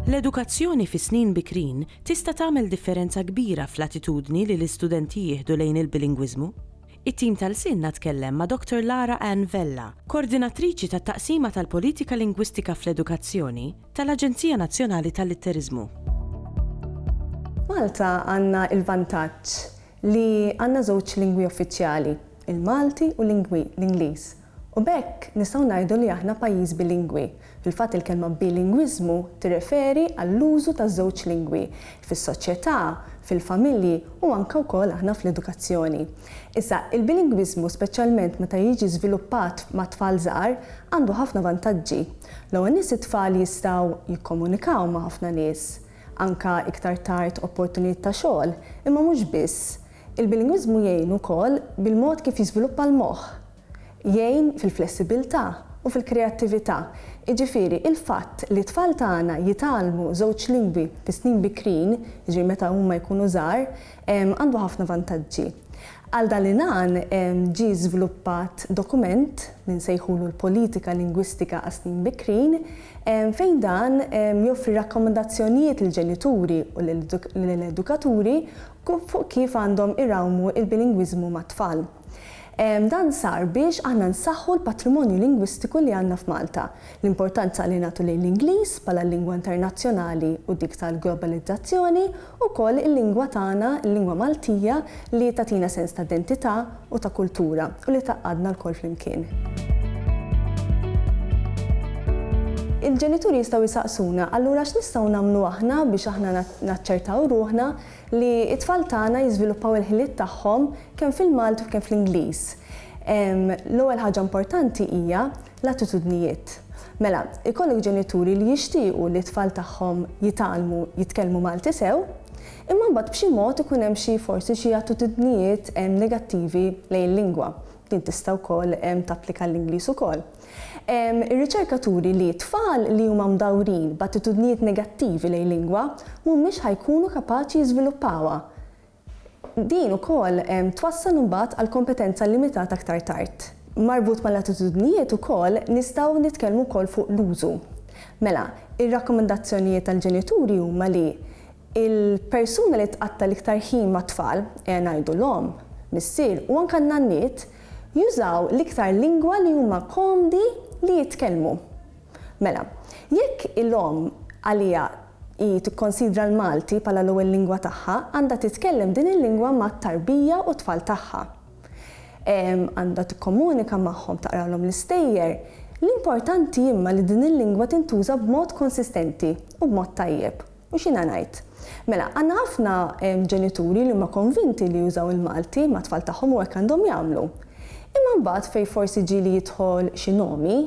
L-edukazzjoni fis-snin bikrin tista' tagħmel differenza kbira fl-attitudni li l-istudenti jieħdu lejn il-bilingwiżmu. It-tim ta' Lsienna tkellem ma' Dottor Lara Anne Vella, Kordinatriċi tat-Taqsima tal-Politika Lingwistika fl-Edukazzjoni tal-Aġenzija Nazzjonali tal-Litteriżmu. F'Malta għandna l-vantaġġ li għandna żewġ lingwi uffiċjali, il-Malti u l-Ingliż, U b'hekk nistgħu ngħidu li aħna pajjiż bilingwi. Fil-fatt il-kelma bilingwiżmu tirreferi għall-użu ta' żewġ lingwi fis-soċjetà, fil-familji u anke wkoll aħna fl-edukazzjoni. Issa, il-bilingwiżmu speċjalment meta jiġi żviluppat ma' tfal żgħar għandu ħafna vantaġġi. L-ewwel ness it-tfal jistgħu jikkomunikaw ma' ħafna nies, anke iktar tard opportunijiet ta' xogħol, imma mhux biss. Il-bilingwiżmu jgħin ukoll bil-mod kif jiżviluppa l-moħħ. Jgħin fil-flessibbiltà u fil-kreattività. Jiġifieri, il-fatt li t-tfal tagħna jitgħallmu żewġ lingwi fis-snin bikrin, jiġifieri meta huma jkunu żgħar, għandu ħafna vantaġġi. Għal dan l-għan ġie żviluppat dokument li nsejħulu l-Politika Lingwistika għas-Snin Bikrin fejn dan joffri rakkomandazzjonijiet lill-ġenituri u lill-edukaturi fuq kif għandhom irawmu l-bilingwiżmu mat-tfal. Dan sar biex aħna nsaħħu l-patrimonju lingwistiku li għandna f'Malta, l-importanza li nagħtu lejn l-Ingliż bħala l-lingwa internazzjonali u dik tal-globalizzazzjoni, ukoll il-lingwa tagħna, il-lingwa Maltija li tagħtina sens ta' identità, u ta' kultura u li tgħaqqadna lkoll flimkien. Il-ġenituri jistgħu jsaqsuna, allura x'nistgħu nagħmlu aħna biex aħna naċċertaw ruħna li t-tfal tagħna jiżviluppaw il-ħiliet tagħhom kemm fil-Malti u kemm fl-Ingliż? L-ewwel ħaġa importanti hija L-attitudnijiet. Mela, ikollok ġenituri li jixtiequ li t-tfal tagħhom jitgħallmu jitkellmu Malti sew, imma mbagħad b'xi mod ikun hemm xi forsi xi attitudnijiet negattivi lejn il-lingwa. Din tista' wkoll tapplika għall-Ingliż ukoll. Ir-riċerka turi li tfal li huma mdawrin b'attitudnijiet negattivi lejn lingwa mhumiex ħa jkunu kapaċi jiżviluppawha. Din ukoll twassal imbagħad għal kompetenza limitata aktar tard. Marbut mal-attitudnijiet ukoll nistgħu nitkellmu wkoll fuq l-użu. Mela, ir-rakkomandazzjonijiet tal-ġenituri huma li l-persuna li tqatta' l-iktar ħin mat-tfal, ejja ngħidu l-omm, missier u anke n-nanniet, jużaw l-iktar lingwa li huma komdi li jitkellmu. Mela, jekk il-omm għaliha hi tikkonsidra l-Malti bħala l-ewwel lingwa tagħha, għandha titkellem din il-lingwa mat-tarbija u t-tfal tagħha. Għandha tikkomunika magħhom, taqralhom l-istejjer. L-importanti imma li din il-lingwa tintuża b'mod konsistenti u b'mod tajjeb. U x'jiena ngħid? Mela, għandna ħafna ġenituri li huma konvinti li jużaw il-Malti mat-tfal tagħhom u hekk għandhom jagħmlu. Imma mbagħad fejn forsi ġieli jidħol xi nomi,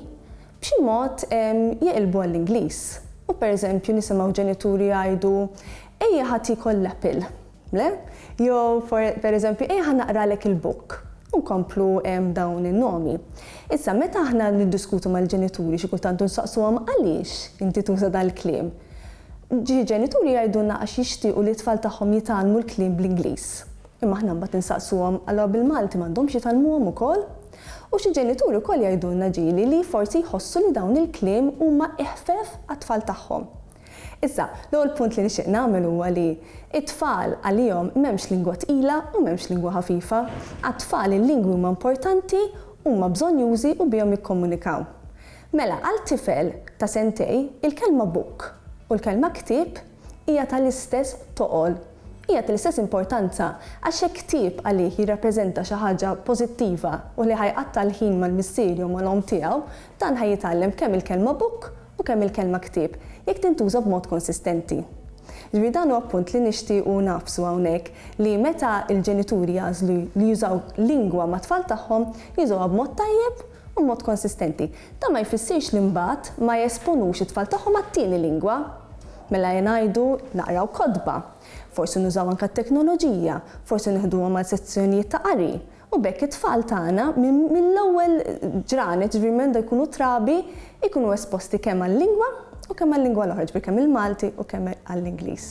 b'xi mod jeqilbu għall-Ingliż. U pereżempju nisimgħu ġenituri jgħidu, Ejja ħadd jiekol l-apple. Le? Jew, per eżempju, ejja ħa naqralek il-book. U nkomplu b'dawn in-nomi. Issa, meta aħna niddiskutu mal-ġenituri xi kultant u nsaqsuhom għaliex inti tuża dal-kliem, xi ġenituri jgħidulna għax jixtiequ li t-tfal tagħhom jitgħallmu l-kliem bl-Ingliż. Imma aħna mbagħad insaqsuhom allura bil-Malti m'għandhomx jitgħallmuhom ukoll? U xi ġenituri wkoll jgħidulna ġieli li forsi jħossu li dawn il-kliem huma iħfef għat-tfal tagħhom. Issa, l-ewwel punt li nixtieq nagħmel huwa li t-tfal għalihom m'hemmx lingwa tqila u m'hemmx lingwa ħafifa. Għat-tfal il-lingwi huma importanti, huma bżonnjużi u bihom jikkomunikaw. Mela, għal tifel ta' sentej, il-kelma book u l-kelma ktieb hija tal-istess toqol, hija tal-istess importanza għax jekk ktieb għalih jirrappreżenta xi ħaġa pożittiva u li ħa jqatta' l-ħin mal-missier jew mal-omm tiegħu, dan ħa jitgħallem kemm il-kelma book u kemm il-kelma ktieb, jekk tintuża b'mod konsistenti. Jiġifieri dan huwa punt li nixtiequ ngħaffsu hawnhekk li meta l-ġenituri jagħżlu li jużaw lingwa mat-tfal tagħhom, jużawha b'mod tajjeb u b'mod konsistenti. Dan ma jfissirx li mbagħad ma jesponux it-tfal tagħhom għat-tieni lingwa. Mela ngħidu naqraw kotba, forsi nużaw anke t-teknoloġija, forsi nieħduhom għal sezzjonijiet ta' qari, U b'hekk it-tfal tagħna mill-ewwel ġranet, jiġifieri minn meta jkunu trabi, ikunu esposti kemm għal-lingwa u kemm għal-lingwa l-oħra, jiġifieri kemm il-Malti u kemm għall-Ingliż.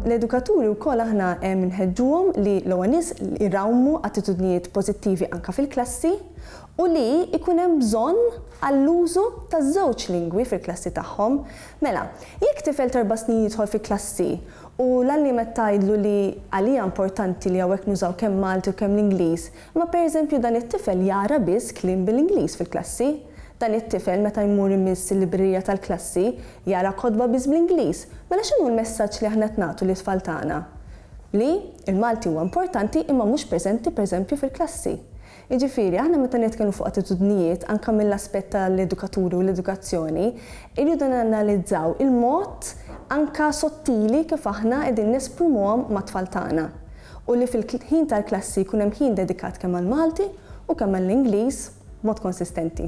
L-edukaturi wkoll aħna nħeġġuhom li l-ewwel nies irawmu attitudnijiet pożittivi anke fil-klassi u li jkun hemm bżonn għall-użu taż-żewġ lingwi fil-klassi tagħhom. Mela, jekk tifel t'erba' snin jidħol fi klassi U l-għalliem qed tgħidlu li għalija importanti li hawnhekk nużaw kemm Malti u kemm l-Ingliż, imma per eżempju dan it-tifel jara biss kliem bil-Ingliż fil-klassi. Dan it-tifel meta jmur imiss il-librerija tal-klassi jara kotba biss bl-Ingliż. Mela x'inhu l-messaġġ li aħna qed nagħtu lit-tfal tagħna? Li l-Malti huwa importanti imma mhux preżenti per eżempju fil-klassi. Jiġifieri, aħna meta nitkellmu fuq attitudnijiet, anke mill-aspett tal-edukaturi u l-edukazzjoni, irridu nanalizzaw il-mod anke sottili kif aħna qegħdin nesprimuhom mat-tfal tagħna u li fil-ħin tal-klassi jkun hemm ħin dedikat kemm għall-Malti u kemm għall-Ingliż b'mod konsistenti.